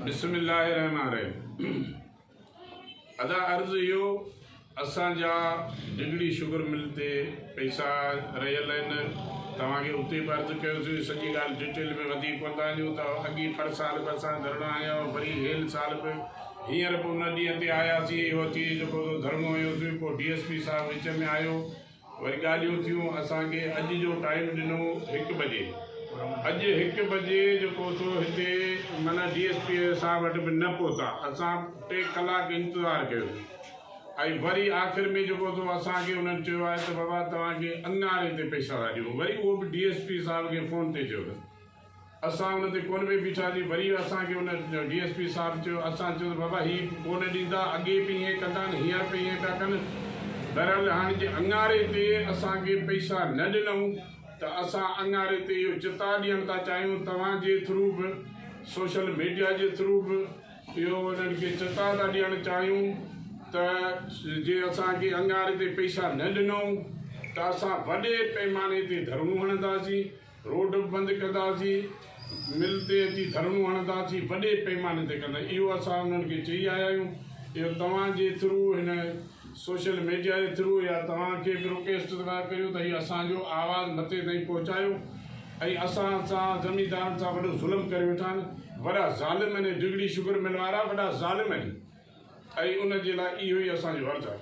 بسم الله الرحمٰن الرحيم ادا عرض اهو اسان جا ڊگهڙي شگر مل تي پئسا رهيل آهن توهان کي اتي به عرض ڪيوسين سڄي ڳالهه ڊيٽيل ۾ وڌيڪ ڪوندا وڃون ته اڳي پر سال به اسان ڌرڻا هنيا هئا وري هيل سال به هينئر به ان ڏينهن تي آياسين اهو اچي جيڪو ڌرڻو هنيوسين پوء ڊي ايس پي صاحب وچ ۾ آيو وري ڳالهيون ٿيون اسان کي اڄ جو ٽائيم ڏنو هڪ بجي اڄ هڪ بجي جيڪو سو هتي معنيٰ ڊي ايس پي صاحب وٽ به نه پهتا اسان ٽي ڪلاڪ انتظار ڪيو ۽ وري آخر ۾ جيڪو سو اسان کي انهن چيو آهي ته بابا توهان کي اڱاري تي پئسا ٿا ڏيون وري اهو به ڊي ايس پي صاحب کي فون تي چيو اٿن اسان ان تي ڪونه پئي بيٺا سين وري اسان کي ان ڊي ايس پي صاحب چيو اسان چيو ته بابا هي ڪونه ڏيندا اڳي به ائين ڪندا آهن هينئر به ائين پيا ڪن بهرحال هاڻي جي اڱاري تي اسان کي پئسا نه ڏنئون ته اسان اڱاري تي اهو چتاء ڏيڻ ٿا چاهيون توهان جي ٿرو به سوشل ميڊيا جي ٿرو به اهو انهن کي چتاء ٿا ڏيڻ چاهيون ته جي اسان کي اڱاري تي پئسا نه ڏنئون ته اسان وڏي پئماني تي ڌرڻو هڻنداسين. روڊ به بند ڪنداسين، مل تي اچي ڌرڻو هڻنداسين، وڏي پيماني تي ڪنداسين، اهو اسان انهن کي چئي آيا آهيون، اهو توهان جي ٿرو هن سوشل ميڊيا جي ٿرو يا توهان ڪي به رڪويسٽ ٿا ڪريو ته هي اسان جو آواز مٿي تائين پهچايو ۽ اسان سان زميندارن سان وڏو ظلم ڪري ويٺا آهن، وڏا ظالم آهن هي ڊگهڙي شگر مل وارا وڏا ظالم آهن ۽ ان جي لاء اهو ئي اسان جو عرض آهي.